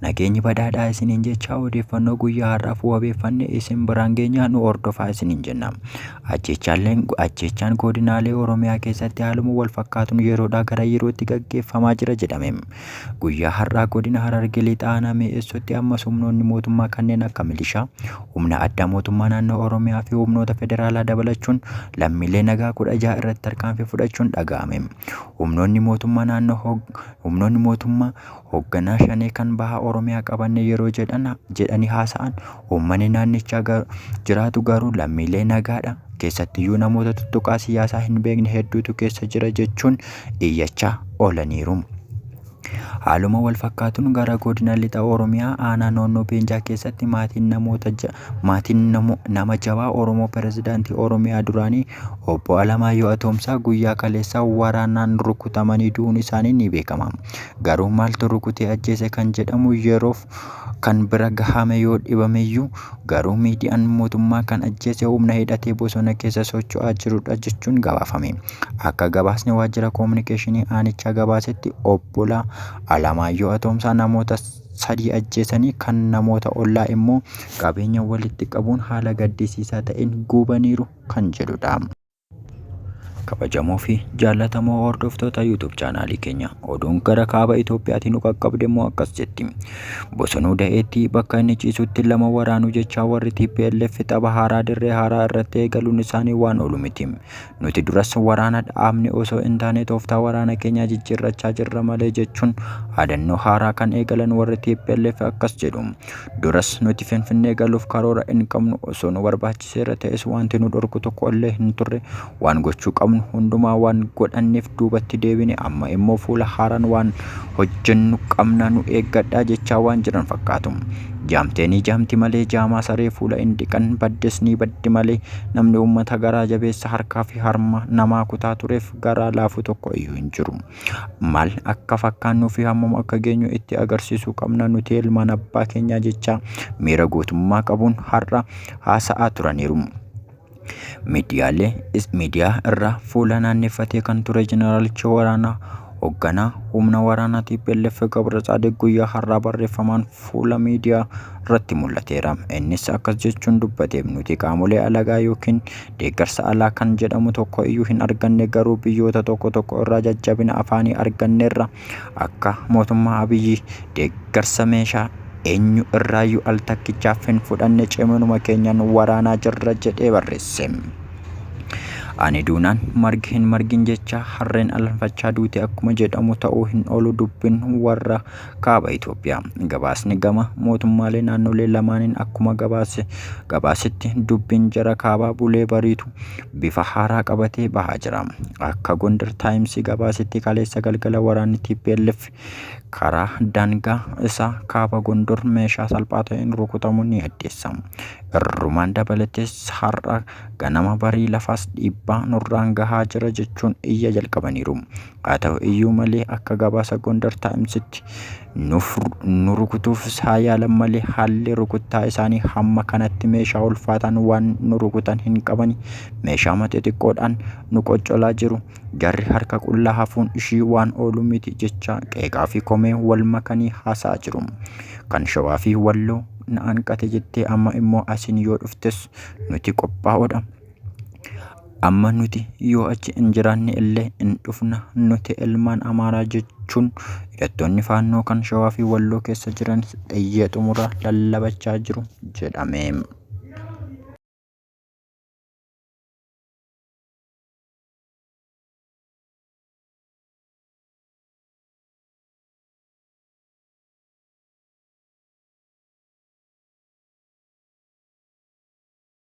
Nageenyi badhaadhaa isiniin jechaa odeeffannoo guyyaa har'aaf wabeeffanne isin biraan geenyaa nu hordofaa isiniin jenna. Ajjeechaalleen ajjeechaan godinaalee Oromiyaa keessatti haaluma wal fakkaatuun yeroodhaa gara yerootti gaggeeffamaa jira jedhame. Guyyaa har'aa godina Harargee Lixaa aanaa Mi'eessootti ammas humnoonni mootummaa kanneen akka milishaa, humna addaa mootummaa naannoo Oromiyaa fi humnoota federaalaa dabalachuun lammiilee nagaa kudha jaha irratti tarkaanfii fudhachuun dhaga'ame. Humnoonni mootummaa naannoo hog- humnoonni mootummaa Hogganaa Shanee kan Baha Oromiyaa qabanne yeroo jedhan jedhanii haasa'an uummanni naannichaa gar, jiraatu garuu lammiilee nagaadha. Keessattiyyuu namoota tuttuqaa siyaasaa hin beekne hedduutu keessa jira jechuun iyyachaa oolaniiru. Haaluma wal fakkaatuun gara godina lixa Oromiyaa aanaa Noonnoo Beenjaa keessatti maatiin namoota ja, maatiin namo, nama jabaa Oromoo pirezidaantii Oromiyaa duraanii obbo Alamaayyoo Atoomsaa guyyaa kaleessaa waraanaan rukutamanii du'uun isaanii ni beekama. Garuu maaltu rukutee ajjeese kan jedhamu yeroof kan bira gahame yoo dhibameyyuu garuu miidiyaan mootummaa kan ajjeese humna hidhatee bosona keessa socho'aa jirudha jechuun gabaafame. Akka gabaasni waajjira koominikeeshinii aanichaa gabaasetti obbolaa Alamaayyoo Atoomsaa namoota sadii ajjeesanii kan namoota ollaa immoo qabeenya walitti qabuun haala gaddisiisaa ta'een guubaniiru kan jedhudha. Kabajamoo fi jaallatamoo hordoftoota YouTube chaanaalii keenya oduun gara kaaba Itoophiyaatiin nu qaqqabde immoo akkas jetti. Bosonuu da'eetti bakka inni ciisutti lama waraanuu jechaa warri TPLF tapha haaraa dirree haaraa irratti eegaluun isaanii waan oolu miti. Nuti duras waraana dhaabne osoo hin taane tooftaa waraana keenyaa jijjiirrachaa jirra malee jechuun haadannoo haaraa kan eegalan warri TPLF akkas jedhu. Duras nuti Finfinnee galuuf karoora hin qabnu osoo nu barbaachisa. seera ta'es wanti nu dhorku tokko illee hin turre waan gochuu qabnu hundumaa waan godhanneef duubatti deebine amma immoo fuula haaraan waan hojjennu qabna nu eeggadhaa jechaa waan jiran fakkaatu. Jaamtee ni jaamti malee jaamaa saree fuula hin dhiqan baddes ni baddi malee namni uummata garaa jabeessa harkaa fi harma namaa kutaa tureef garaa laafu tokko iyyuu hin jiru. maal akka fakkaannuu fi hammam akka geenyu itti agarsiisuu qabna nuti ilmaan abbaa keenyaa jecha miira gootummaa qabuun har'a haasa'aa turaniiru. Miidiyaalee miidiyaa irraa fuula naanneeffatee kan ture jeneraalichi waraanaa hoogganaa humna waraanaa TPLF Gabra Tsaadiq guyyaa har'aa barreeffamaan fuula miidiyaa irratti mul'ateera. Innis akkas jechuun dubbate nuti qaamolee alagaa yookiin deeggarsa alaa kan jedhamu tokko iyyuu hin arganne garuu biyyoota tokko tokko irraa jajjabina afaanii arganneerra akka mootummaa Abiyyi deeggarsa meeshaa eenyu irraayyuu al takkichaaf hin fudhanne ciminuma keenyaan waraanaa jirra jedhee barreesse. Ani duunaan margi hin margin jecha harreen alanfachaa duute akkuma jedhamu ta'uu hin oolu dubbin warra Kaaba Itoophiyaa. Gabaasni gama mootummaalee naannolee lamaaniin akkuma gabaase gabaasetti dubbiin jara kaabaa bulee bariitu bifa haaraa qabatee bahaa jira. Akka Gondar Taayimsii gabaasetti kaleessa galgala waraanni TPLF karaa daangaa isaa kaaba Gondor meeshaa salphaa ta'een rukutamu ni addeessa. Irrumaan dabalatees har'a ganama barii lafaas dhiibbaa nurraan gahaa jira jechuun iyya jalqabaniiru. Haa ta'u iyyuu malee akka gabaasa Gondar Taa'imsitti nu rukutuufis haa yaalan malee haalli rukuttaa isaanii hamma kanatti meeshaa ulfaataan waan nu rukutan hin qabani. Meeshaa mata xiqqoodhaan nu qoccolaa jiru. Jarri harka qullaa hafuun ishii waan oolu miti jecha qeeqaa fi komee wal makanii haasa'aa jiru. Kan shawaa fi walloo na hanqate jettee amma immoo asiin yoo dhuftes nuti qophaa'oodha. Amma nuti yoo achi hin jiraanne illee hin dhufna nuti ilmaan Amaaraa jechuun hidhattoonni faannoo kan shawaa fi walloo keessa jiran dhayyee xumuraa lallabachaa jiru jedhame.